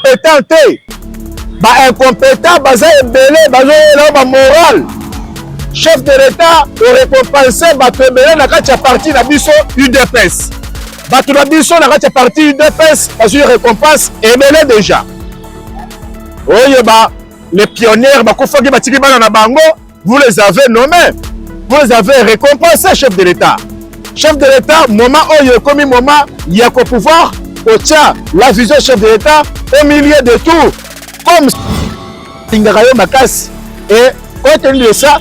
incompetent te ba incompetent baza ebele bazoyela yo ba morale chef de l'etat orecompense bato ebele na kati ya parti na biso udps bato na biso na kati ya parti udps bazwi recompense ebele deja oyeba les pionniers bakufaki batiki bana na bango vous les avez nommés vous les avez récompensés chef de l'état chef de l'état moment oyo ekomi moment ya ko pouvoir kotya la vision chef de l'état au milieu de tout comme alingaka yo makasi et compte tenu de ça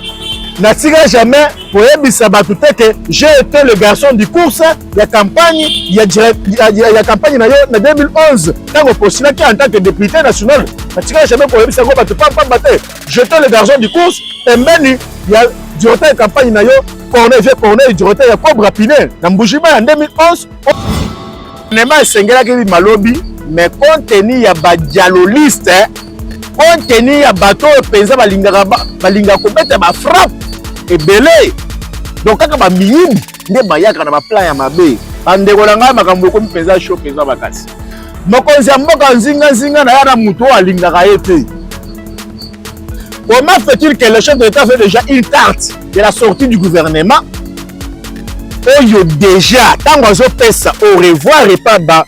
natika jamais koyebisa bato te ke j'ai été le garçon du course ya campagne ya, ya, ya, ya campagne na yo na 2011 ntango postulaki en tant que député national natika jamais koyebisa yango bato pampamba te J'étais le garçon du course pembeni ya directeur ya campagne na yo Corneille vieux Corneille directeur ya Cobra Pinel na Mbujiba ya 2011 nema esengelaki bima lobi mais compte tenu ya ba dialoliste compte tenu ya bato oyo mpenza balingaka balingaka kobeta ba frappe ebele donc kaka bamiyimbi nde bayaka na baplan ya mabe bandeko na ngai makambo ekomi mpenza sho mpenza makasi mokonzi ya mboka nzinganzinga na ya na moto oyo alingaka ye te comment fait-il que le chef de l'état fait déjà une carte de la sortie du gouvernement oyo déjà ntango azopesa au revoir epa ba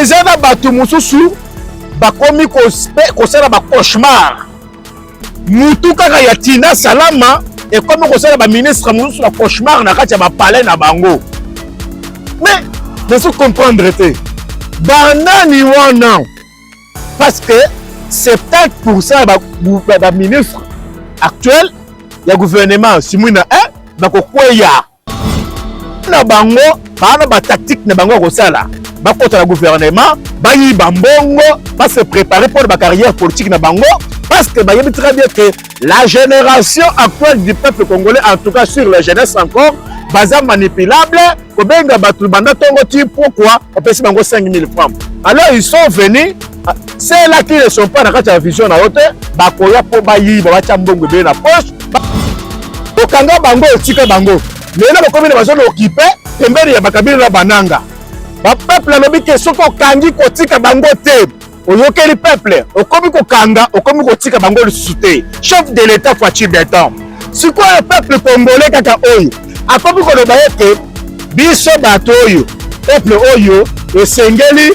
eza na bato mosusu bakomi kosala ba cauchemar mutu kaka ya tina salama ekomi kosala baministre mosusu na cauchemar na kati ya bapalais na bango mais nazo comprendre te banani wana parce que 70 pourcent ya baministre actuel ya gouvernement simwina 1 bakokweya na bango baana ba tactique na bango ya kosala bakota na gouvernement bayiba mbongo ba se préparer mpo na bacarrière politique na bango parce que bayebi très bien que la génération actuelle du peuple congolais en tout cas sur la jeunesse encore baza manipulable kobenga bato banda ntongo ti pourquoi opesi bango 5000 francs alors ils sont venus Ah, c'est là qu'ils ne sont pas na kati ya vision na yo te bakoya mpo bayiba batya mbongo ebele na poche okanga bango otika bango lelo bakomi na bazona okipe pembeni ya bakabila na bananga bapeuple alobi ke soki okangi kotika bango te oyokeli peuple okomi kokanga okomi kotika bango lisusu te chef de l'etat faci beton sikoyo peuple congolais kaka oyo akomi koloba ete biso bato oyo peuple oyo esengeli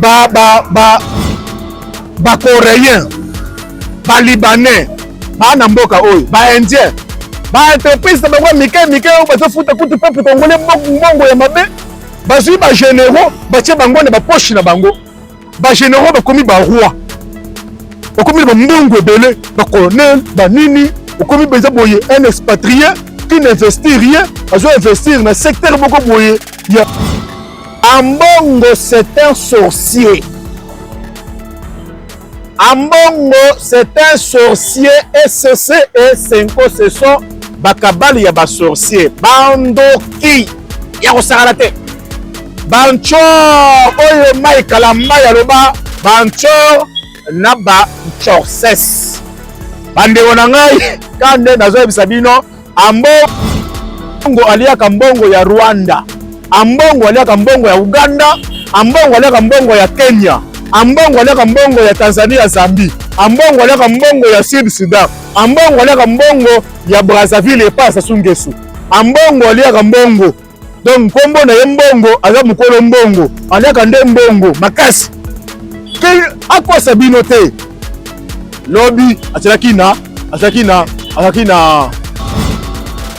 ba ba ba ba coréen ba libanais ba na mboka oyo ba indien ba entreprise na bango mike mike oyo bazofuta kutu peuple congolais mbongo ya mabe bazwi ba généraux batie bango na baposhi na bango ba généraux bakomi ba roi bakomi na bambongo ebele ba colonel ba nini okomi mpenza boye un expatrié qui n'investit rien azo investir na secteur moko boye ya Ambongo c'est un sorcier. Ambongo c'est un sorcier et cc et Senko ce sont bakabali ya ba sorcier bandoki ya kosakana te banchor oyo mai kalamba ya loba banchor na banchorses bandeko na ngai ka nde nazoyebisa bino Ambongo aliaka mbongo ya Rwanda, ambongo aliaka mbongo ya Uganda, ambongo aliaka mbongo ya Kenya, ambongo aliaka mbongo ya Tanzania, Zambie, ambongo aliaka mbongo ya Sud Sudan, ambongo aliaka mbongo ya Brazzaville epa Sassou Nguesso, ambongo aliaka mbongo donc nkombo na ye mbongo aza mokolo mbongo aliaka nde mbongo makasi ke akosa bino te lobi azalaki na azalaki na azalaki na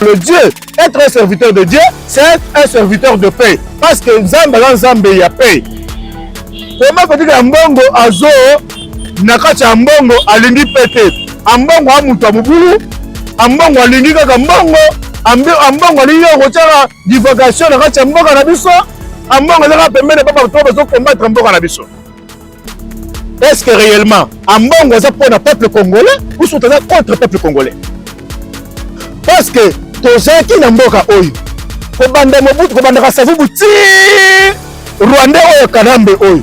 le dieu être un serviteur de dieu c'est être un serviteur de paix parce que nzambe aza nzambe ya paix koma kotika ya mbongo azo na kati ya mbongo alingi pete ambongo a moto ya mobulu ambongo alingi kaka mbongo ambongo alingi kaka kotyaka divagation na kati ya mboka na biso ambongo ezaka pembeni papa to bazo combattre mboka na biso est ce que réellement ambongo aza mpo na peuple congolais ou soki aza contre peuple congolais parce que tozalaki na mboka oyo kobanda mobutu kobandaka savubu ti rwandais oyo kanambe oyo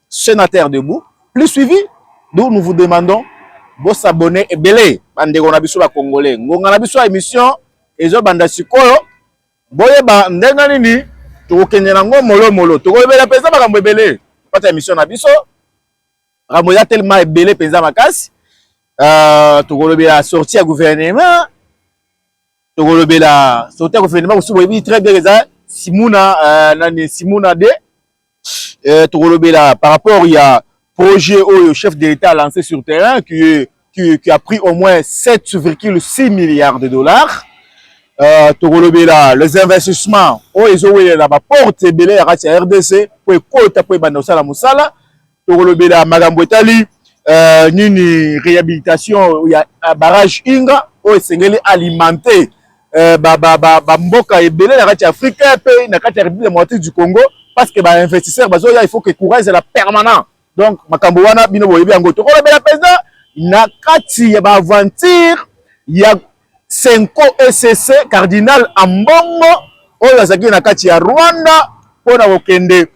Senateur debout plus suivi d'où nous vous demandons bo s'abonner ebele ba ndeko na biso ba congolais ngonga na biso ya émission ezo banda sikoyo boyeba ndenge nini tokokende na ngo molo molo tokolobela mpenza makambo ebele pata émission na biso makambo eza telema ebele mpenza makasi euh, tokolobela sortie ya gouvernement tokolobela sortie ya gouvernement mosusu boyebi très bien eza simuna euh, nani simuna de euh, tokolobela par rapport ya projet oyo chef de l'État a lancé sur terrain qui, est, qui, qui a pris au moins 7,6 milliards de dollars euh, tokolobela les investissements oyo ezowelela baporte ebele ya kati ya rdc mpo ekota mpo ebanda kosala mosala tokolobela makambo etali euh, nini réhabilitation ya barrage inga oyo esengeli alimenter eh, ba, ba, ba, ba mboka ebele na kati ya Afrique eh, pe na kati ya République démocratique du Congo parce que ba investisseurs bazoya il faut que courant ezala permanent donc makambo wana bino boyebi yango tokolobela mpenza na kati ya ba aventure ya senko ecc cardinal ambongo oyo azalaki na kati ya rwanda mpo na kokende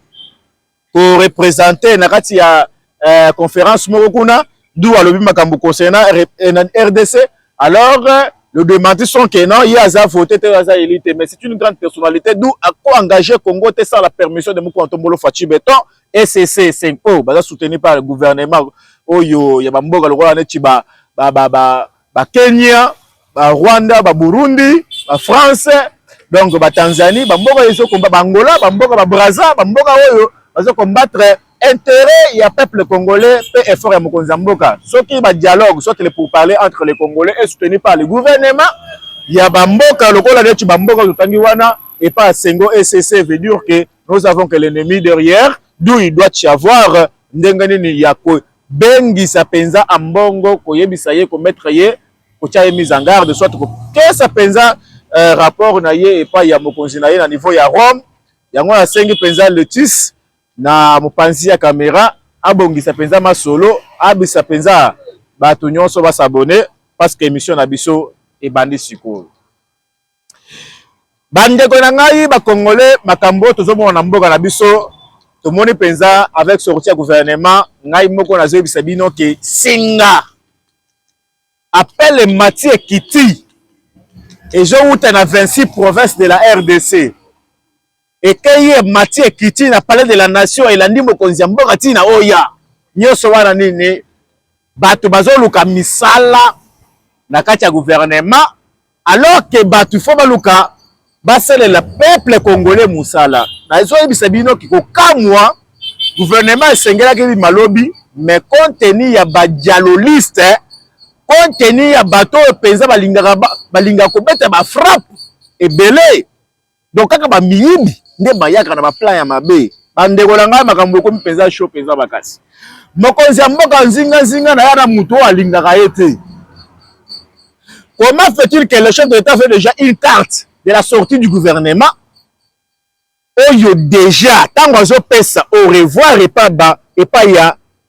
ko representer na kati ya eh, conférence moko kuna d'où alobi makambo concernant eh, RDC alors euh, le démenti sont que non ye aza voté te aza élu te mais c'est une grande personnalité d'où ako engagé Congo te sans la permission de Mukwa Ntombolo Fatshi Beton SCC 5 o baza soutenu par le gouvernement oyo ya bamboka lokola neti ba ba ba, ba ba Kenya, ba Rwanda, ba Burundi, ba France, donc ba Tanzanie, ba mboka ezo combat ba Angola, ba mboka ba Brazza, ba mboka oyo bazo combattre intérêt ya peuple congolais pe effort ya mokonzi ya mboka. Soki ba dialogue soit les pourparlers entre les Congolais et soutenu par le gouvernement ya ba mboka lokola neti ba mboka totangi wana et pas Sengo ECC veut dire que nous avons que l'ennemi derrière d'où il doit y avoir ndenge nini ya ko Bengisa penza Ambongo koyebisa ye ko mettre ye kotia ye mise en garde soit kopesa penza euh, rapport na ye epai ya mokonzi na ye na niveau ya Rome. Yango nasengi penza Letis na mopanzi ya camera abongisa penza masolo, abisa penza bato nyonso ba s'abonner parce que emission na biso ebandi sikoyo. Bandeko na ngai ba congolais makambo oyo tozomona na mboka na biso tomoni mpenza avec sorti ya gouvernement ngai moko nazoyebisa bino ke singa apele mati ekiti ezowuta na 26 province de la rdc ekeyi emati ekiti na palais de la nation elandi mokonzi ya mboka ntina oya nyonso wana nini bato bazoluka misala na kati ya gouvernement alors que bato fo baluka basalela peuple congolais mosala nazoyebisa bino kikokamwa gouvernement esengelaki bima lobi mais compte tenu ya badialoliste compte tenu ya bato oyo mpenza balingaka balingaka kobeta bafrappe ebele donc kaka ba miyibi nde bayaka na ba plan ya mabe bandeko na ngai makambo ekomi mpenza sho mpenza makasi mokonzi ya mboka nzinga nzinga na ya na moto oyo alingaka ye te comment fait-il que le chef de l'état fait déjà une carte de la sortie du gouvernement oyo déjà ntango azopesa au revoir epa ba epai ya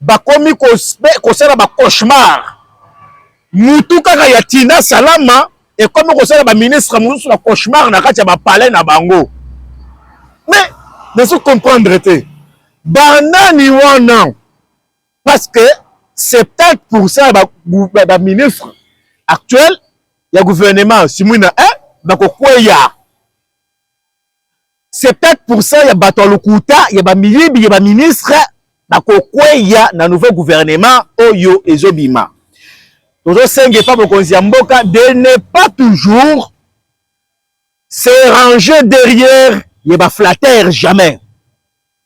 bakomi kosala ba cauchemar mutu kaka ya tina salama ekomi kosala ba ministre mosusu ba cauchemar na kati ya bapalais na bango mais nazo comprendre te banani wana parce que 70 pourcent ya baministre ba, ba actuel ya gouvernement simwina 1 bakokweya 70% ya bato ya lokuta ya bamiyibi ya baministre bakokweya na nouveau gouvernement oyo ezobima tozosenga epa mokonzi ya mboka de ne pas toujours se ranger derrière ye baflatter jamais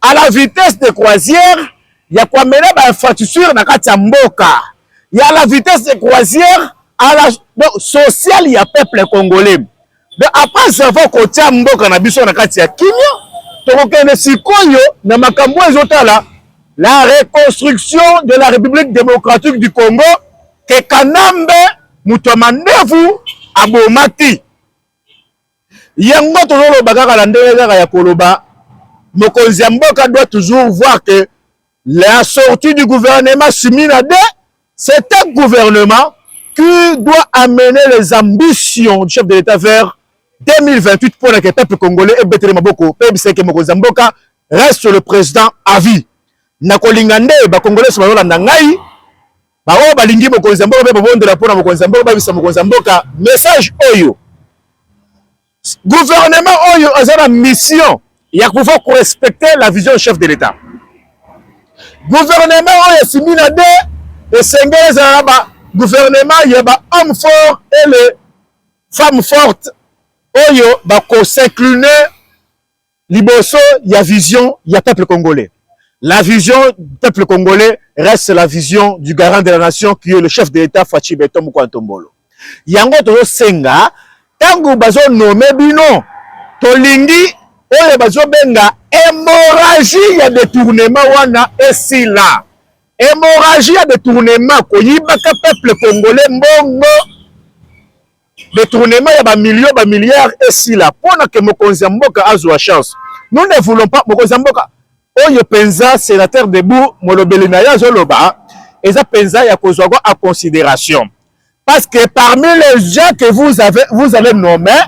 à la vitesse de croisière ya koamena ba infrastructure na kati ya mboka ya la vitesse de croisière à la donc sociale ya peuple congolais donc après savoir kotia mboka na biso na kati ya kimia tokokende sikoyo na makambo oyo ezotala la reconstruction de la république démocratique du congo ke kanambe moto ya mandevu abomaki Yango tozoloba kaka na ndenge kaka ya koloba mokonzi ya mboka doit toujours voir que la sortie du gouvernement Simina de c'est un gouvernement qui doit amener les ambitions du chef de l'État vers 2028 pour que peuple congolais ebetele maboko pe biseke mokonzi ya mboka reste le président à vie. Nakolinga nde ba congolais bayolanda ngai baoyo balingi mokonzi ya mboka mpe babondela mpo na mokonzi ya mboka babisa mokonzi ya mboka message oyo gouvernement oyo aza na mission ya pouvoir korespecte la vision chef de l'etat gouvernement oyo esimbi na de esengeli ezala na ba gouvernement ya ba homme fort et le femme forte oyo bakosincline liboso ya vision ya peuple congolais la vision du peuple congolais reste la vision du garant de la nation qui est le chef de l'état Fatshi Beton Mokua Ntombolo yango tozosenga ntango bazonome bino tolingi oyo bazobenga hémorragie ya détournement wana esila hémorragie ya détournement koyibaka peuple congolais mbongo Detournement ya ba millions ba milliards esila pona que mokonzi ya mboka azua chance. Nous ne voulons pas mokonzi ya mboka oyo penza senateur Debout molobeli na ye azo loba eza penza ya kozua yango en consideration. Parce que parmi les gens que vous avez vous allez nommer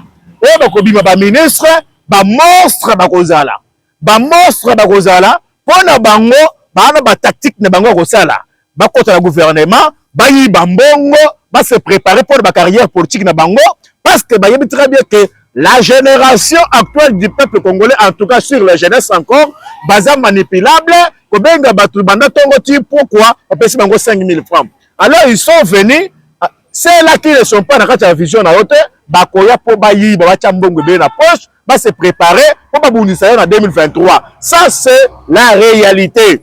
oyo bakobima ba ministres ba monstres bakozala. ba monstre bakozala mpo na bango baana ba tactique na bango ya kosala bakota na gouvernement bayiba mbongo ba se préparer mpo na ba carrière politique na bango parce que bayebi très bien que la génération actuelle du peuple congolais en tout cas sur la jeunesse encore baza manipulable kobenga bato banda ntongo ti pourquoi bapesi bango 5000 francs alors ils sont venus cela qui ne sont pas na kati ya vision na yo te bakoya mpo bayiba batya mbongo ebele na poche ba se preparer mpo babundisa yo na 2023 ça c'est la réalité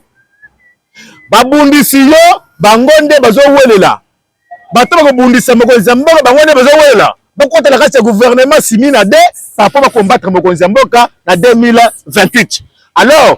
babundisi yo bango nde bazowelela bato bakobundisa mokonzi ya mboka bango nde bazowelela bokota na kati ya gouvernement simi na de papa bakombatre mokonzi ya mboka na 2028 alors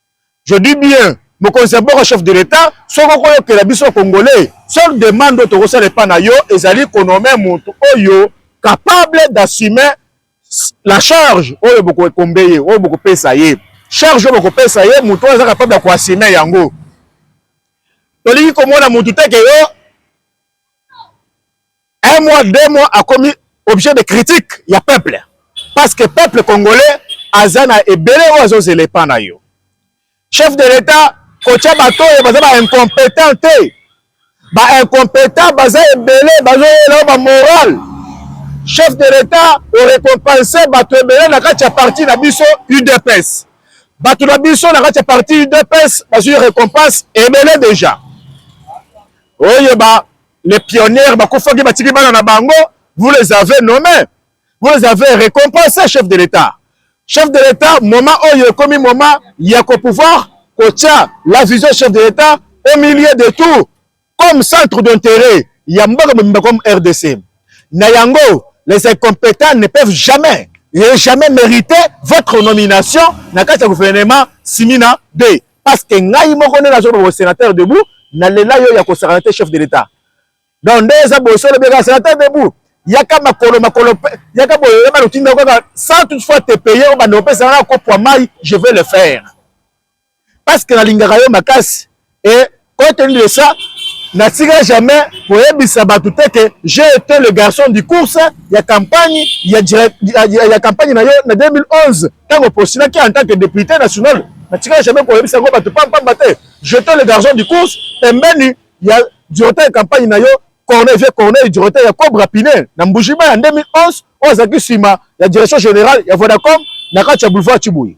Je dis bien mokonzi ya mboka chef de l'etat soki okoyokela biso congolais seule demande oyo tokosala epa na yo ezali konome motu oyo capable d'assumer la charge oyo bokoekombe ye oyo bokopesa ye charge oyo bokopesa ye motu oyo aza capable ya koassume yango tolingi komona motu te ke yo un mois deux mois akomi objet de critique ya peuple parce que peuple congolais aza na ebele oyo azozela epa na yo chef de l'etat kotya bato oyo baza ba incompetent te ba incompetent baza ebele bazoyela yo bamoral chef de l'etat orecompense bato ebele na kati ya parti na biso udps bato na biso na kati ya parti udps bazwi récompense ebele déjà oyeba les pionniers bakufaki batiki bana na bango vous les avez nommés vous les avez récompensés chef de l'état chef de l'état moment oyo ekomi moment ya ko pouvoir kotya la vision chef de l'état au milieu de tout comme centre d'intérêt ya mboka mobimba comme rdc na yango les incompétents ne peuvent jamais et jamais mériter votre nomination na kati ya gouvernement simina 2 parce que ngai moko nde nazo ba sénateur debout na lela yo ya ko sakana te chef de l'état donc nde eza boso le beka sénateur debout yaka makolo makolo yaka boye yaka lotinda kaka sans toutefois te payer au bande opesa na kopwa mai je vais le faire parce que nalingaka yo makasi et Compte tenu de ça, natika jamais koyebisa bato te ke j'ai été le garçon du course ya campagne ya, ya, ya, ya campagne na yo na 2011 ntango opostulaki en tant que député national natika jamais koyebisa yango bato pampamba te j'étais le garçon du course pembeni ya directeur ya campagne na yo corneille vieux corneille directeur ya cobra pine na mbujima ya 2011 oyo azalaki nsima ya direction générale ya vodacom na kati ya boulevard chibuyi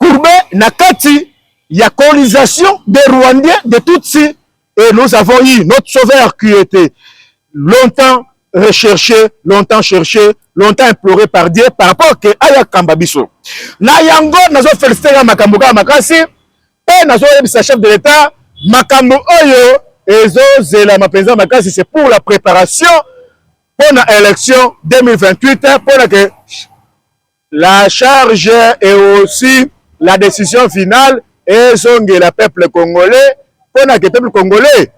courbe na kati ya colonisation des Rwandais de Tutsi et nous avons eu notre sauveur qui était longtemps recherché, longtemps cherché, longtemps imploré par Dieu par rapport que aya kamba biso. Na yango nazo féliciter ya makambo kaka makasi pe nazo yebisa chef de l'État makambo oyo ezo zela mapenza makasi c'est pour la préparation pour na élection 2028 pour que La charge et aussi la decision finale ezongela peuple congolais mpo na ke peuple congolais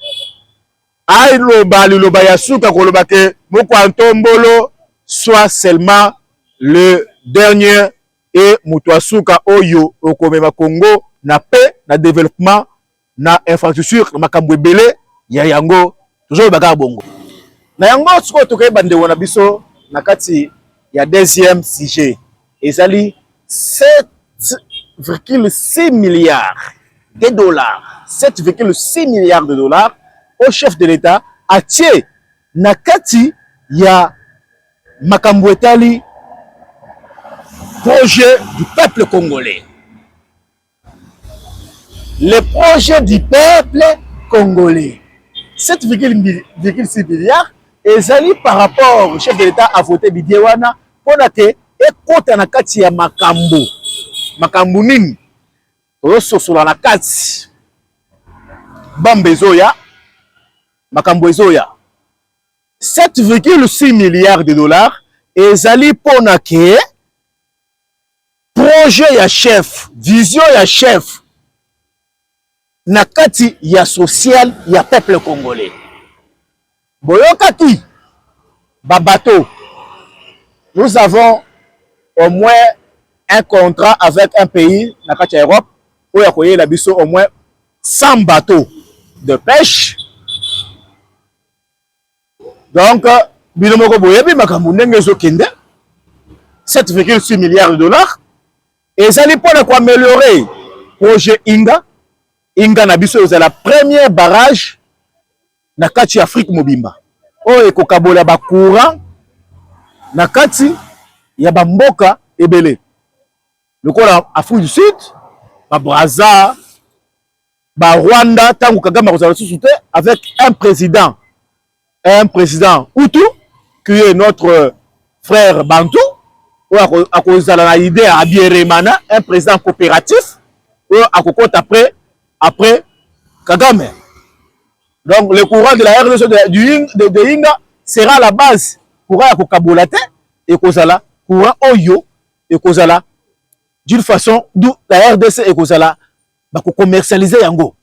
aloba liloba ya suka koloba ke mokwa ntombolo soit seulement le dernier et moto ya suka oyo okomema Congo na paix na developpement na infrastructure na makambo ebele ya yango tozoloba kaka bongo na yango sikoyo tokoki bandeko na biso na kati ya deuxième sujet ezali 7,6 milliards de dollars 7,6 milliards de dollars au chef de l'État atie na kati ya makambo etali projet du peuple congolais Le projet du peuple congolais 7,6 milliards ezali par rapport chef de l'etat a vote budget wana mpona ke ekota na kati ya makambo makambo nini tozososola na kati bamba ezoya makambo ezoya 7,6 milliards de dollars ezali mpona ke projet ya chef vision ya chef na kati ya social ya peuple congolais boyokaki babato nous avons au moins un contrat avec un pays na kati ya europe oyo ya koyela biso au moins 100 bateau de pêche Donc, bino moko boyebi makambo ndenge ezokende 7,6 milliards de dollars ezali mpo na koameliore projet inga inga na biso ezala premier barrage na kati ya afrique mobimba oyo ekokabola bacourant na kati ya bamboka ebele lokola afrique du sud babraza ba Rwanda tango Kagame akozala lisusu te avec un président un président Hutu qui est notre frère Bantu oyo akozala na idée ya Abieremana un président coopératif oyo akokota après après Kagame donc le courant de la RDC de, de, de, de Inga sera la base courant ya kokabola te ekozala courant oyo ekozala d'une façon d'où la RDC ekozala bako commercialiser yango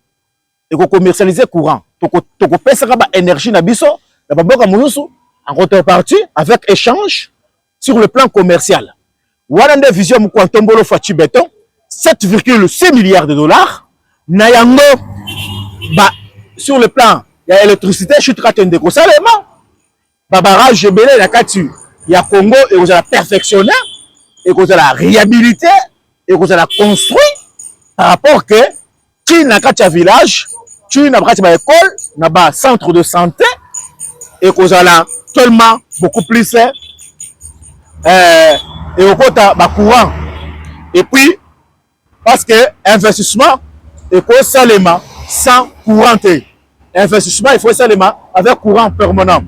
eko commercialiser courant toko toko pesaka ba énergie na biso na ba mboka mosusu en contrepartie avec échange sur le plan commercial wana nde vision mokua ntombolo faci beton 7,6 milliards de dollars na yango ba sur le plan ya électricité chute kate ndeko salema ba barrage ebele na kati ya Congo ekozala perfectionne ekozala réhabilité ekozala construit par rapport que ti na kati ya village ti na kati ba école na ba centre de santé ekozala tellement beaucoup plus euh, ekokota ba courant et puis Parce que investissement ekosalema sans courant te. Investissement il faut esalema avec courant permanent.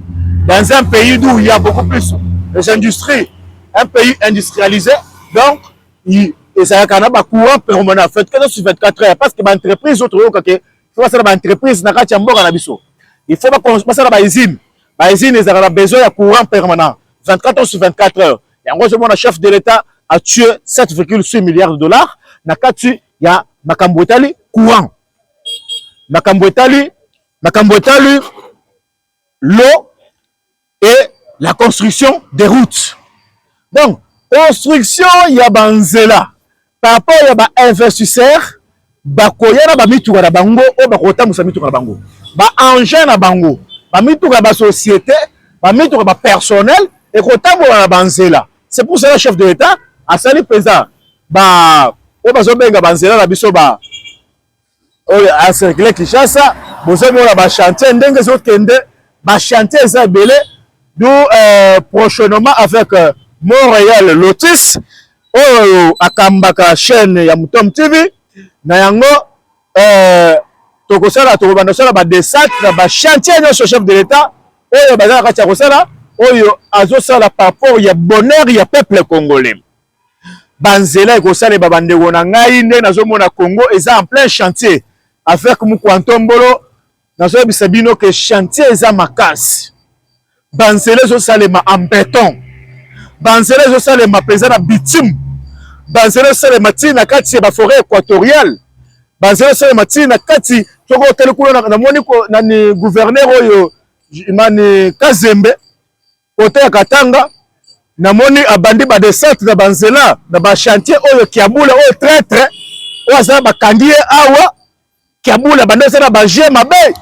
Dans un pays d'où il y a beaucoup plus des industries, un pays industrialisé, donc il ezalaka na ba courant permanent 24 sur 24 heures parce que ba entreprises autres yoka ke faut basala ba entreprises na kati ya mboka na biso. Il faut basala ba usines. Ba usines ezalaka na besoin ya courant permanent 24 heures sur 24 heures. yango ozomona chef de l'etat a tue 7,6 milliards de dollars na kati ya makambo etali courant makambo etali makambo etali l'eau et la construction des routes donc construction ya banzela par rapport ya ba investisseurs bakoya na bamituka na bango oyo bakotambusa mituka na bango baengin na bango bamituka ya basociété bamituka bapersonnel ekotambola na banzela c'est pour cela chef de l'état asali mpenza ba oyo bazobenga banzela na biso ba oyo a circule Kinshasa bozomona ba chantier ndenge ezokende ba chantier eza ebele du euh, prochainement avec euh, Montréal Lotus oyo akambaka chaîne ya Mutom TV na yango euh, tokosala tokobanda kosala ba desat na ba chantier nyonso chef de l'État oyo baza na kati ya kosala oyo azosala par rapport ya bonheur ya peuple congolais banzela ekosaleba bandeko na ngai ndenge nazomona congo eza en plein chantier avec mukwantombolo nazoyebisa bino ke chantier eza makasi banzela ezosalema en beton banzela ezosalema mpenza na bitume banzela ezosalema ntina na kati ya baforet équatoriale banzela ezosalema ntina na kati soki otali kuna namoni nani guverner oyo mani kazembe kote ya Katanga namoni abandi ba descente na banzela na ba chantier oyo Kiabula oyo traitre oyo aza bakangi ye awa Kiabula banda aza na baje mabe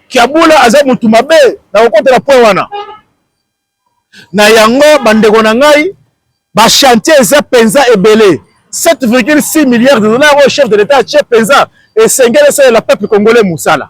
Kiabula aza mutu mabe na kokotela point wana na yango bandeko na ngai ba chantier eza penza ebele 7,6 milliards de dollars oyo chef de l'etat atie penza esengeli esalela peuple congolais mosala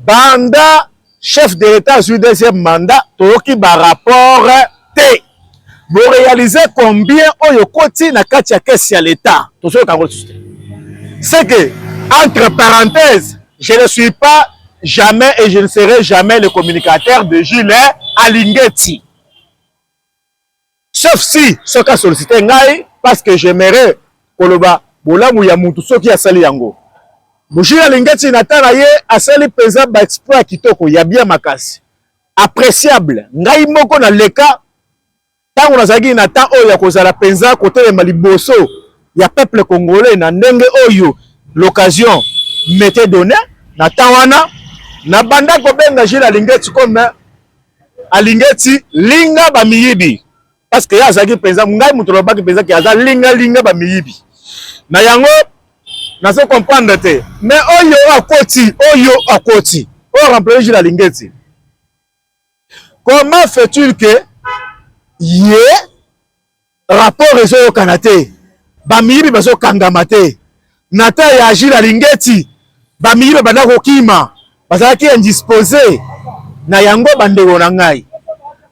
Banda chef de l'etat azui deuxième mandat toyoki ba rapport te bo realiser combien oyo koti na kati ya caisse ya l'etat tozoyoka yango lisusu te c'est que entre parenthèses je ne suis pas jamais et je ne serai jamais le communicateur de Gilles Alingeti Sauf si soki asolicite ngai parce que j'aimerais koloba bolamu ya mutu soki asali yango. Mujila Alingeti na tala ye asali penza ba exploit kitoko ya bien makasi. Appréciable. Ngai moko na leka tango nazalaki na temps oyo ya kozala penza kotelema liboso ya peuple congolais na ndenge oyo l'occasion m'était donné na temps wana na banda kobenga Gilles Alingeti comme alingeti linga ba miyibi parce que azaki penza ngai mutu lobaki penza ki aza linga linga ba miyibi na yango nazo comprendre te mais oyo akoti oyo akoti oyo remplacer jila lingeti comment fait-il que ye yeah, Rapport ezoyokana te, bamiyibi bazokangama te. Nathan ya Agi na Lingeti, bamiyibi babanda kokima, bazalaki indispose na yango. Bandeko na ngai,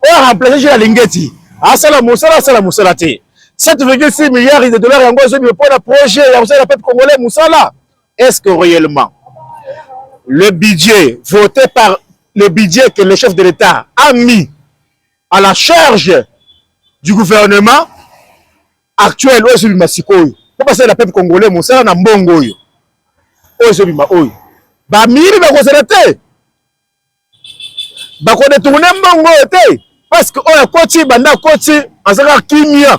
oyo remplace Agi na Lingeti asala mosala, asala mosala te. 7,6 milliards de dollars yango ezobima mpo na projet ya kosala peuple congolais mosala. Est-ce que réellement le budget voté par le budget que le chef de l'État a mis à la charge du gouvernement actuel oyo ezobima sikoyo mpo basalela peuple congolais mosala na mbongo oyo oyo ezobima oyo bamiyibi bakozala te bakodetourne mbongo oyo te parce que oyo akoti banda akoti azalaka kimia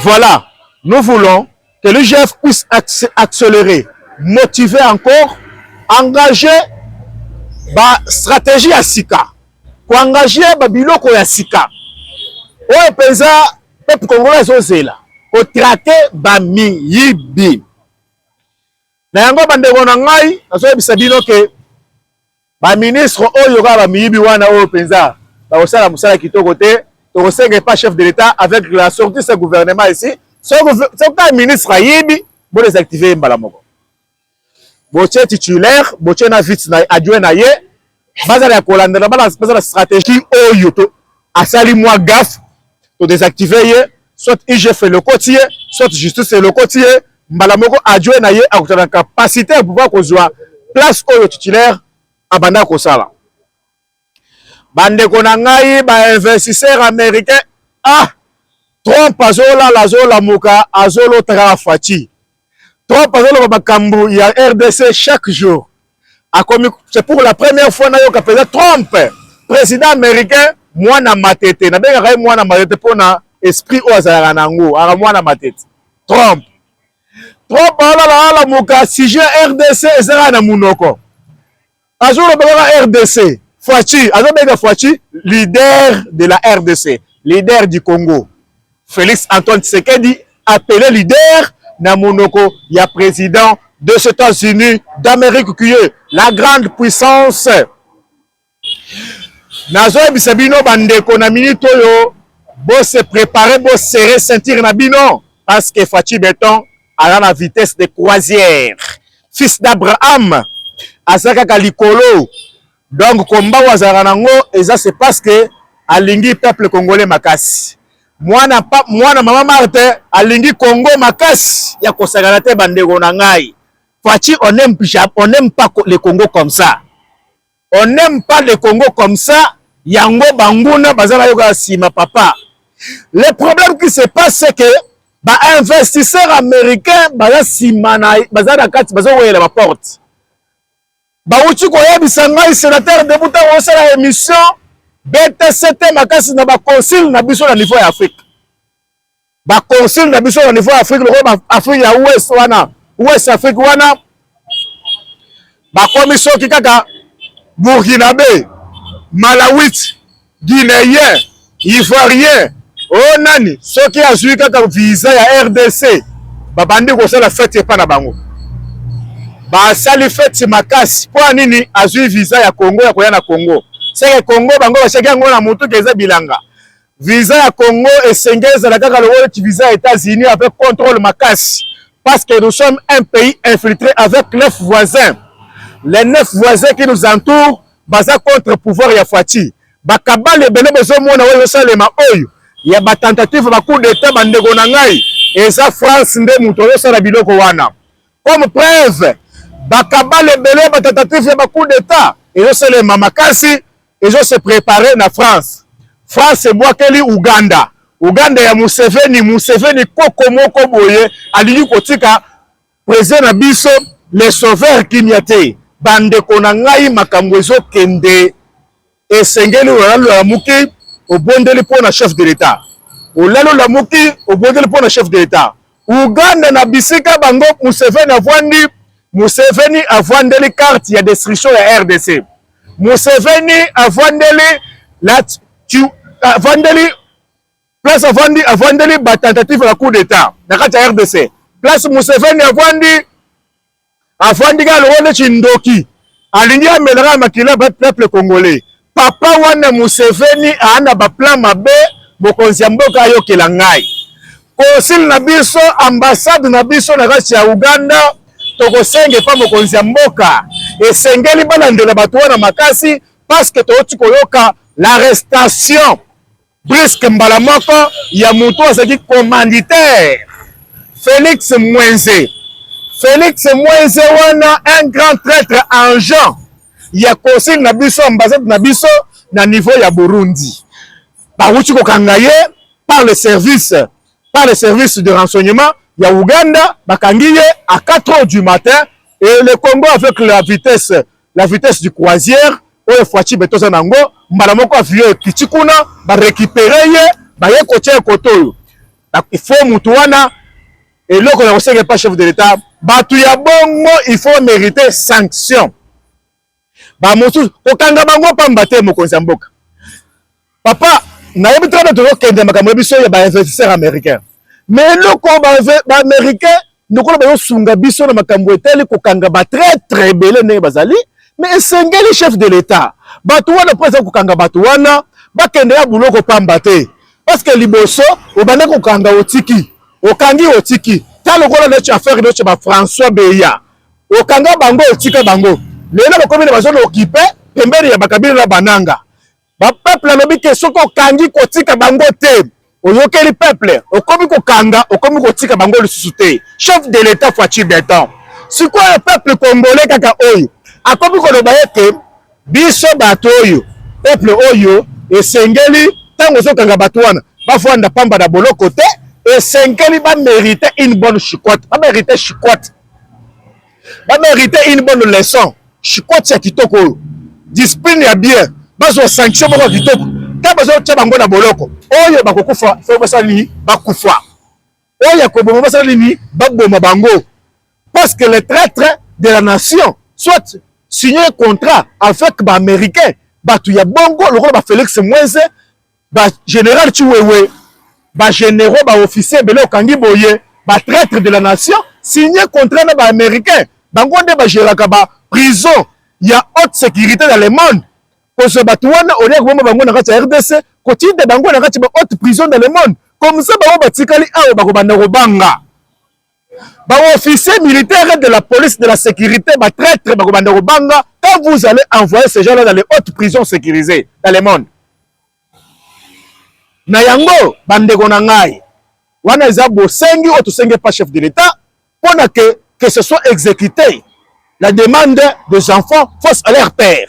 Voilà, nous voulons que l'IGF puisse accélérer, motiver encore, engager ba stratégie ya sika, koengager ba biloko ya sika oyo mpenza peuple congolais azozela, kotrake ba miyibi na yango. Bandeko na ngai, nazoyebisa bino ke Ba ministre oyo kaka ba miyibi wana oyo penza bakosala musala kitoko te tokosenga epa chef de l'etat avec la sortie ce gouvernement ici soki ka ministre ayibi bo desactive ye mbala moko botie titulaire botie na vice na adjoint na ye bazala ya kolandana bazala stratégie oyo to asali mwa gaffe to desactiver ye soit IGF elokoti ye soit justice elokoti ye mbala moko adjoint na ye akutana na capacité ya pouvoir kozwa place oyo titulaire abanda kosala bandeko na ngai bainvestisseur américain ah trump azolala azolamuka azolotaka faci Trump azoloba makambo ya RDC chaque jour. Akomi c'est pour la première fois nayoka mpenza Trump président américain mwana matete. Nabengaka ye mwana matete mpo na esprit oyo azalaka na yango, aka mwana matete. Trump. Trump alalaala moka sujet RDC ezalaka na munoko. azoloba kaka rdc faci azobenga faci leader de la rdc leader du congo félix antoine tshisekedi appelé leader na monoko ya président des états-unis d'amérique qui est la grande puissance nazoyebisa bino bandeko na minute oyo bose prépare bosere ceinture na bino parce que faci beton aza na vitesse de croisière fils d'abraham aza kaka likolo donc komba oyo azalaka nango eza c'est parce que alingi peuple congolais makasi mwana, pa, mwana mama marte alingi congo makasi ya kosakana te bandeko na ngai faci on aime, on aime pas le congo comme ça On n'aime pas le Congo comme ça. Yango banguna baza na yoka sima papa. Le problème qui se passe c'est que ba investisseurs américains baza sima na baza na kati bazo wela ba porte. Bawuti koyebisa ngai sénateur debuta osala émission BTCT makasi na ba consul na biso na niveau ya Afrique. ba consul na biso na niveau ya Afrique lokola ba Afrique ya Ouest wana Ouest Afrique wana bakomi soki kaka Burkinabe, Malawite, Guinéen, Ivoirien o oh, nani soki azwi kaka visa ya RDC babandi kosala fete epa na bango basali fete makasi mpo ya nini azwi visa ya Congo ya koya na Congo seke Congo bango bashaki yango na motuka eza bilanga Visa ya Congo esengeli ezala kaka lokola ti visa ya Etats-Unis avec contrôle makasi parce que nous sommes un pays infiltré avec neuf voisins. Les neuf voisins qui nous entourent baza contre pouvoir ya Fatshi. Bakabale ebele bozomona oyo ezosalema oyo ya ba tentative ba coup d'etat bandeko na ngai eza France nde moto ayosala biloko wana. Comme preuve bakabale ebele ba tentative ya ba coup d'etat ezosalema makasi ezo se preparer na France. France ebwakeli Ouganda. Ouganda ya Museveni, Museveni koko moko boye alingi kotika president na biso le sauveur kimia te. Bandeko na ngai makambo ezokende esengeli olalo ya muki obondeli mpo na chef de l'etat olalo la muki obondeli mpo na chef de l'etat Ouganda na bisika bango Museveni avwandi Museveni avwandeli carte ya destruction ya RDC Museveni avandeli la avandeli place avandi avandeli ba tentative ya coup d'etat na kati ya RDC place Museveni avandi avandi kaka longo neti ndoki alingi amela kaka makila ba peuple congolais papa wana Museveni aana ba plan mabe mokonzi ya mboka ayokela ngai Konsili na biso, ambasade na biso na kati ya Uganda, tokosenga epa mokonzi ya mboka, esengeli balandela bato wana makasi, paske touti koyoka l'arrestation briske mbala moko ya moto azalaki commanditaire Felix Mwenze. Felix Mwenze wana un grand traitre en genre ya konsili na biso, ambasade na biso na niveau ya Burundi, bawuti kokanga ye par le service par le service de renseignement ya Ouganda bakangi ye à 4 heures du matin et le Congo avec la vitesse la vitesse du croisière oyo Fatshi Beton aza nango mbala moko avion ekiti kuna ba récupérer ye baye kotya ye kote oyo il faut mutu wana eloko na kosenga epa chef de l'État bato ya bongo il faut mériter sanction ba mosusu kokanga bango pamba te mokonzi ya mboka papa nayebi tata tozokende makambo ya biso ya ba investisseur américain me eloko baaméricain lokola bazosunga biso na makambo etali kokanga batraitre ebele ndenge bazali me esengeli chef de l'etat bato wana mpo eza kokanga bato wana bakende ya buloko pamba te parceke liboso obanda kokanga otiki okangi otiki ta lokola neti affaire neti ba françois beya okanga bango otika bango lelo bakomi na bazona okipe pembeni ya bakabila na bananga bapeple alobi ke soki okangi kotika bango te oyokeli peple okomi kokanga okomi kotika bango lisusu te chef de l'etat faci beton sikoyo peple congolais kaka oyo akomi koloba ete biso bato oyo peple oyo esengeli ntango ozokanga bato wana bafanda pamba na boloko te esengeli bamerite une bonne chicote bamerite chicote ba merite une bonne leçon chikoti ya kitoko oyo discipline ya bien bazwa sanction moko ya kitoko ntango bazotya bango na boloko oyo bakokufa soki basala nini bakufa oyo ya koboma basala nini baboma bango parce que le traitre de la nation soit signe contrat avec baaméricain bato ya bongo lokola bafélix mwenze ba general Chiwewe ba generaux ba officiers bele okangi boye ba traitre de la nation signer contrat na ba américains bango nde ba geraka ba prison ya haute sécurité dans le monde kozwa bato wana olie koboma bango na kati ya rdc kotinda bango na kati ba haute prison dans le monde comme ça bango batikali awa bakobanda kobanga ba officiers militaires de la police de la sécurité ba traîtres bakobanda kobanga quand vous allez envoyer ces gens-là dans les hautes prisons sécurisées dans le monde na yango bandeko na ngai wana eza bosengi oyo tosengi epa chef de l'État mpo na que que ce soit exécuté la demande des enfants face à leur père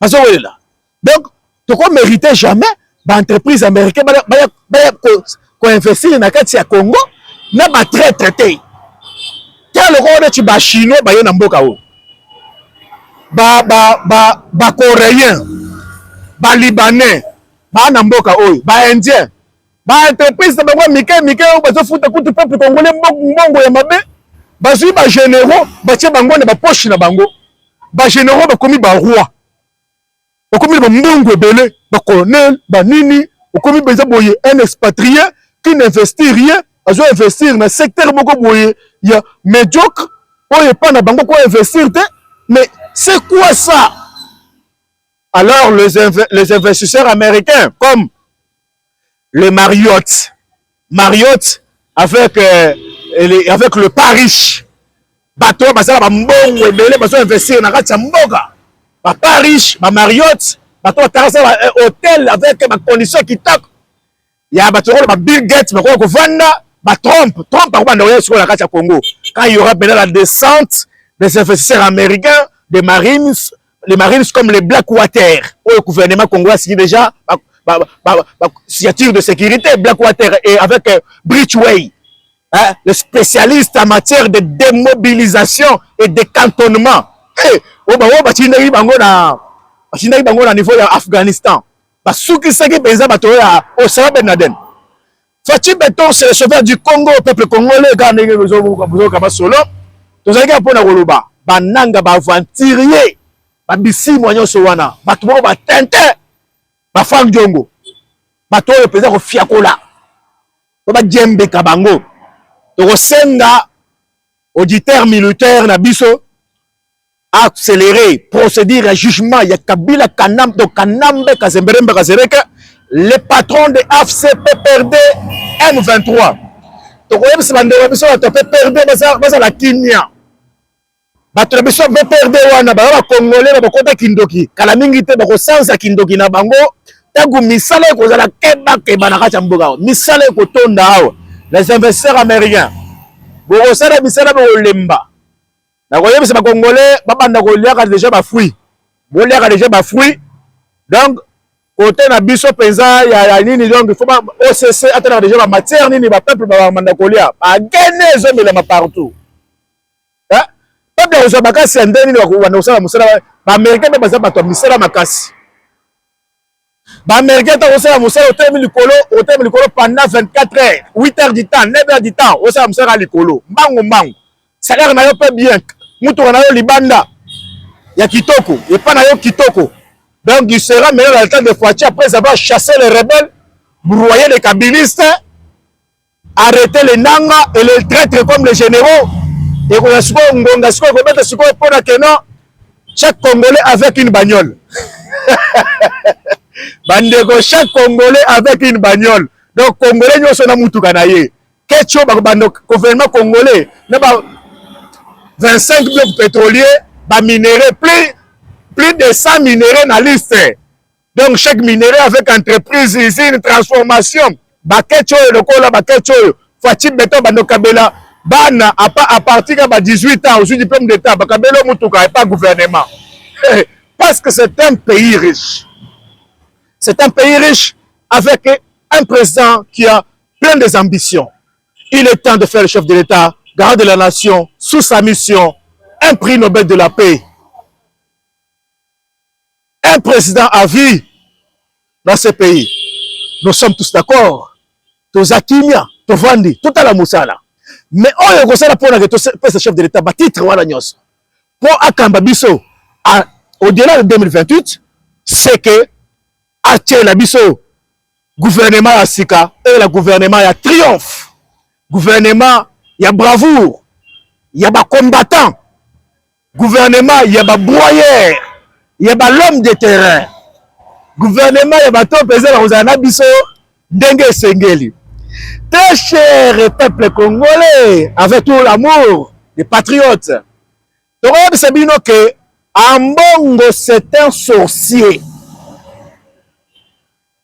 bazo welela donc toko merite jamais ba entreprise américain baya baya baya ko, ko investir na kati ya Congo na ba traitre te tala lokola neti ba chinois baye na mboka oyo ba ba ba ba coréen ba libanais ba na mboka oyo ba indien Ba entreprises na bango ya mike mike oyo bazofuta kutu peuple congolais mbongo ya mabe, bazwi ba generaux batie bango na ba poche na bango, ba generaux bakomi ba roi, bakomi na ba mbongo ebele, ba colonel ba nini, okomi mpenza boye un expatrie qui n'investit rien, azo investir na secteur moko boye ya mediocre oyo epai na bango ko investir te, mais c'est quoi ça? Alors les, inv les investisseurs américains comme le Marriott. Marriott avec, euh, les, avec le parish. Bato oyo bazala bambongo ebele bazo investir na kati ya mboka baparish bamariotte bato batarasa ba euh, hôtel avec bacondition kitoko ya bato lokola ba bill gate bakoya kovanda batrompe trompe akobanda koya sikoyo na kati ya congo quand il y aura maintenant la descente des investisseurs américains des marines les marines comme les black water oyo gouvernement congolais asiki déjà ba, ba, ba, ba, signature de sécurité black water et avec euh, bridgeway hein, le spécialiste en matière de démobilisation et de cantonnement hey, eh, oyo bango batindaki bango na batindaki bango na niveau ya afghanistan basukisaki mpenza bato oyo ya osama ben laden Fatshi Beton c'est le sauveur du Congo peuple congolais kaka ndenge bozoyoka masolo tozalaki ya mpona koloba bananga baaventurier babisimwa nyonso wana bato moko batintin bafrank diongo bato oyo mpenza kofiakola to bajembeka bango tokosenga auditeur militaire na biso accélérer procédure ya jugement ya Kabila Kanam donc Kanambe Kazemberembe Kazereke les patrons de AFC PPRD M23 tokoyebisa bandeko ya biso bato ya PPRD bazala kimia bato na biso PPRD wana baza bakongole bakota kindoki kala mingi te bakosanza kindoki na bango ntango misala ekozala kebakeba na kati ya mboka awa misala ekotonda awa les investisseurs américains bokosala misala bokolemba nakoyebisa ba congolais babanda koliaka deja ba fruits boliaka deja ba fruits donc kote na biso mpenza ya, ya nini donc fo occ atalaka deja bamatière nini bapeuple babanda kolia bagene ezomelama partout eh? peuple akozwa makasi ya nde nini bakobanda kosala mosala baaméricain mpe baza bato ya misala makasi Ba américains ta osala musala otelemi likolo otelemi likolo pendant 24 heures 8 heures du temps 9 heures du temps osala musala likolo mbangu mbangu salaire na yo pe bien mutuka na yo libanda ya kitoko epa na yo kitoko donc il sera meilleur à l'état de Fatshi après avoir chassé les rebelles broyé les kabilistes arrete le nanga et le traitre comme les généraux ekoya sikoyo ngonga sikoyo ekobeta sikoyo mpo na keno chaque congolais avec une bagnole bandeko chaque congolais avec une bagnole donc congolais nyonso na motuka na ye kecho bakobanda gouvernement congolais na ba 25 bloc pétrolier baminerai plus plus de 100 minerai na liste donc chaque minerai avec entreprise usine transformation baketch oyo lokola baketch oyo faci beton bandokabela bana apa à partir ya ba 18 ans ozwi diplôme d'état bakabela yo motuka epa gouvernement eh, parce que c'est un pays riche c'est un pays riche avec un président qui a plein des ambitions il est temps de faire le chef de l'état garant de la nation sous sa mission un prix Nobel de la paix un président à vie dans ce pays nous sommes tous d'accord toza kimia tovandi totala mosala mais oyo ekosala mpo nake topesa chef de l'état batitre wana nyonso mpo akamba biso au-delà de 2028 c'est que atyela biso gouvernement ya sika eyela gouvernement ya triomphe gouvernement ya bravoure ya bacombattant gouvernement ya ba broyeur ya ba l'homme de terrain gouvernement ya bato oyo mpenza bakozala na biso ndenge esengeli très cher peuple congolais avec tout l'amour des patriotes tokoyebisa bino ke ambongo c'est un sorcier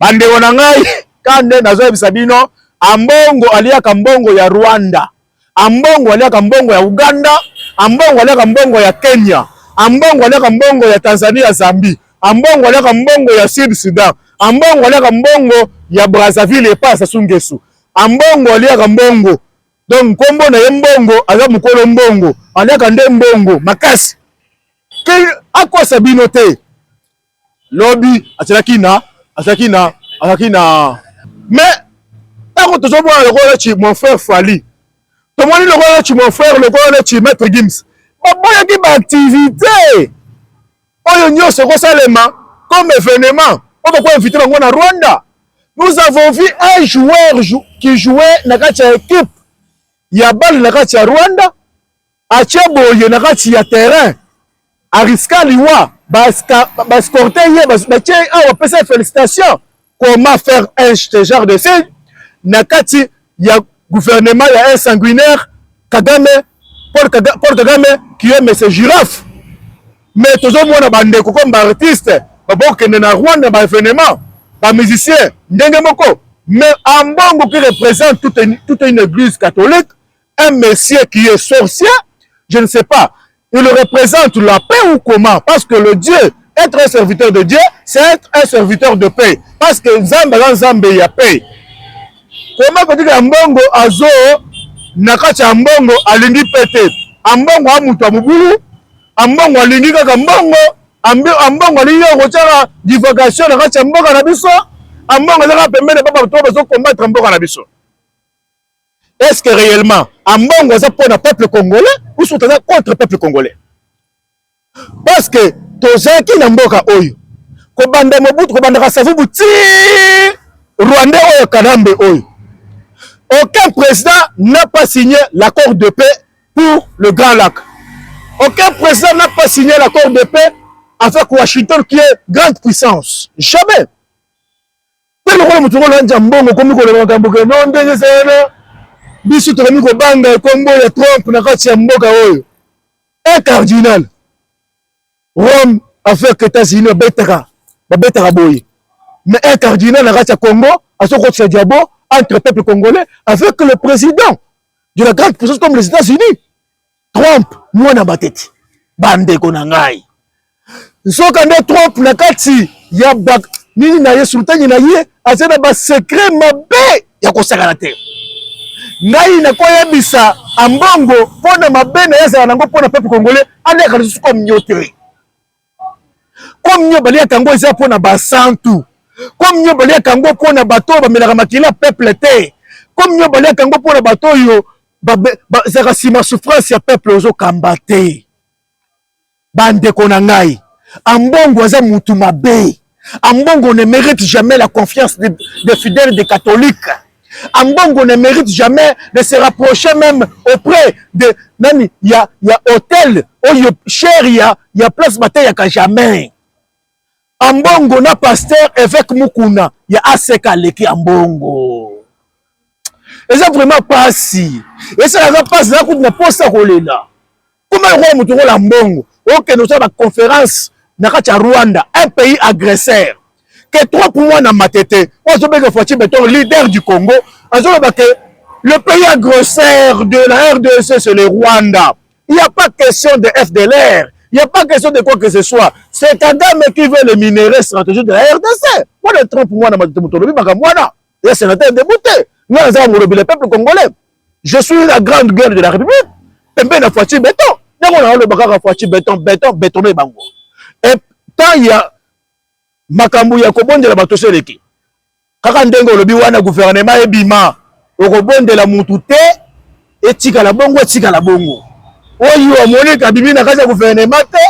Bandeko na ngai kande nazoyebisa bino ambongo aliaka mbongo ya Rwanda, ambongo aliaka mbongo ya Uganda, ambongo aliaka mbongo ya Kenya, ambongo aliaka mbongo ya Tanzania, Zambie, ambongo aliaka mbongo ya Sud Sudan, ambongo aliaka mbongo ya Brazzaville epa Sassou Nguesso, ambongo aliaka mbongo donc nkombo na ye mbongo, aza mokolo mbongo, aliaka nde mbongo makasi. Akosa bino te Lobi azalaki na azalaki na azalaki na mais ntango tozomona lokola neti mon frère Fally tomoni lokola neti mon frère lokola neti maître Gims baboyaki baaktivité oyo nyonso ekosalema comme événement oyo bakoinvite bango na Rwanda nous avons vu un joueur qui jouait na kati ya équipe ya bale na kati ya Rwanda Atie boye na kati ya terrain, ariska liwa, ba escorter ye, batie ye awa, bapesa ye felicitation. Comment faire un ce genre de signe na kati ya gouvernement ya un sanguinaire Kagame, Paul Kagame, Paul Kagame qui est monsieur Girafe. Mais tozomona bandeko comme ba artiste babokende na Rwanda ba événement, ba musicien ndenge moko. Mais Ambongo qui représente toute, toute une église catholique un monsieur qui est sorcier, je ne sais pas, il représente la paix ou comment Parce que le Dieu, être un serviteur de Dieu, c'est être un serviteur de paix. Parce que Nzambe la Nzambe ya paix. Comment que tu ambongo azo nakati ambongo alingi pete. Ambongo amutu amubulu, ambongo alingi kaka ambongo, ambongo alingi kochara divagation nakati amboka na biso, ambongo zaka pembele papa to bazo combattre amboka na biso. est ce que réellement ambongo aza mpo na peuple congolais ou soki aza contre peuple congolais parce que tozalaki na mboka oyo kobanda mobutu kobandaka savubu ti rwandais oyo kanambe oyo aucun président n'a pas signé l'accord de paix pour le grand lac aucun président n'a pas signé l'accord de paix avec washington qui est grande puissance jamais Mpe lokola moto kolanja mbongo okomi koloba makambo ke no ndenge eza wana, biso tokomi kobanga nkombo ya Trump na kati ya mboka oyo. Un cardinal Rome affaire que États-Unis babetaka babetaka boye, mais un cardinal na kati ya Congo azokotisa diabo entre peuple congolais avec le président de la grande puissance comme les États-Unis. Trump mwana matete bandeko na ngai nzoka nde Trump na kati ya ba nini na ye sultani na ye aza na basekre mabe ya kosakana te ngai nakoyebisa ambongo mpo na mabe na ye azala nango mpo na pepe congolais aleka lisusu comme yo te Comme nyo baliaka yango eza mpo na basantu. Comme nyo baliaka yango mpo na bato oyo bamelaka makila ya peuple te. Comme nyo baliaka yango mpo na bato oyo bazalaka nsima souffrance ya peuple ozokamba te. Bandeko na ngai, Ambongo aza mutu mabe. Ambongo ne mérite jamais la confiance des de fidèles des catholiques. Ambongo ne mérite jamais de se rapprocher même auprès de nani ya ya hôtel oyo cher ya ya place bateyaka jamais. Ambongo na pasteur évêque Mukuna ya ACK aleki Ambongo. Eza vraiment pasi. Esa eza pasi na kutu na posa kolela. koma lokola moto okola mbongo okende osala baconférence na kati ya rwanda un pays agresseur ke trop mois na matete oyo azobenge foici beton leader du congo azoloba ke le pays agresseur de la rdc c'est le rwanda il n'y a pas question de fdlr il n'y a pas question de quoi que ce soit c'est kagame qui veut les minerais stratégiques de la rdc wana trop mois na matete moto olobi makambo wana ya sénateur debute ngai nazaka molobi le peuple congolais je suis la grande gueule de la république pembeni na fatshi beton ndenge naoloba kaka fatshi beton beton betone bango e temps ya makambo ya kobondela bato so eleki kaka ndenge olobi wana guvernema ebima okobondela mutu te etikala bongo etikala bongo oyo omoni kabimi na kati ya guvernema te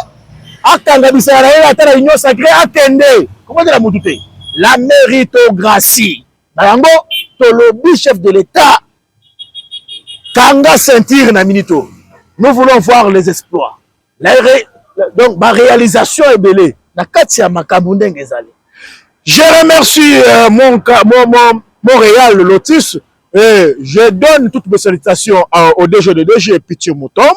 akanga bisala na ye ata na union sacré akende kobondela mutu te la méritocratie na yango tolobi chef de l'etat kanga ceinture na minito nous voulons voir les exploits la ré... donc ba réalisation ebele na kati ya makambo ndenge ezali je remercie euh, mon, mon, mon, mon réal lotus et je donne toutes mes salutations euh, au DG de DG Pitié Moutombe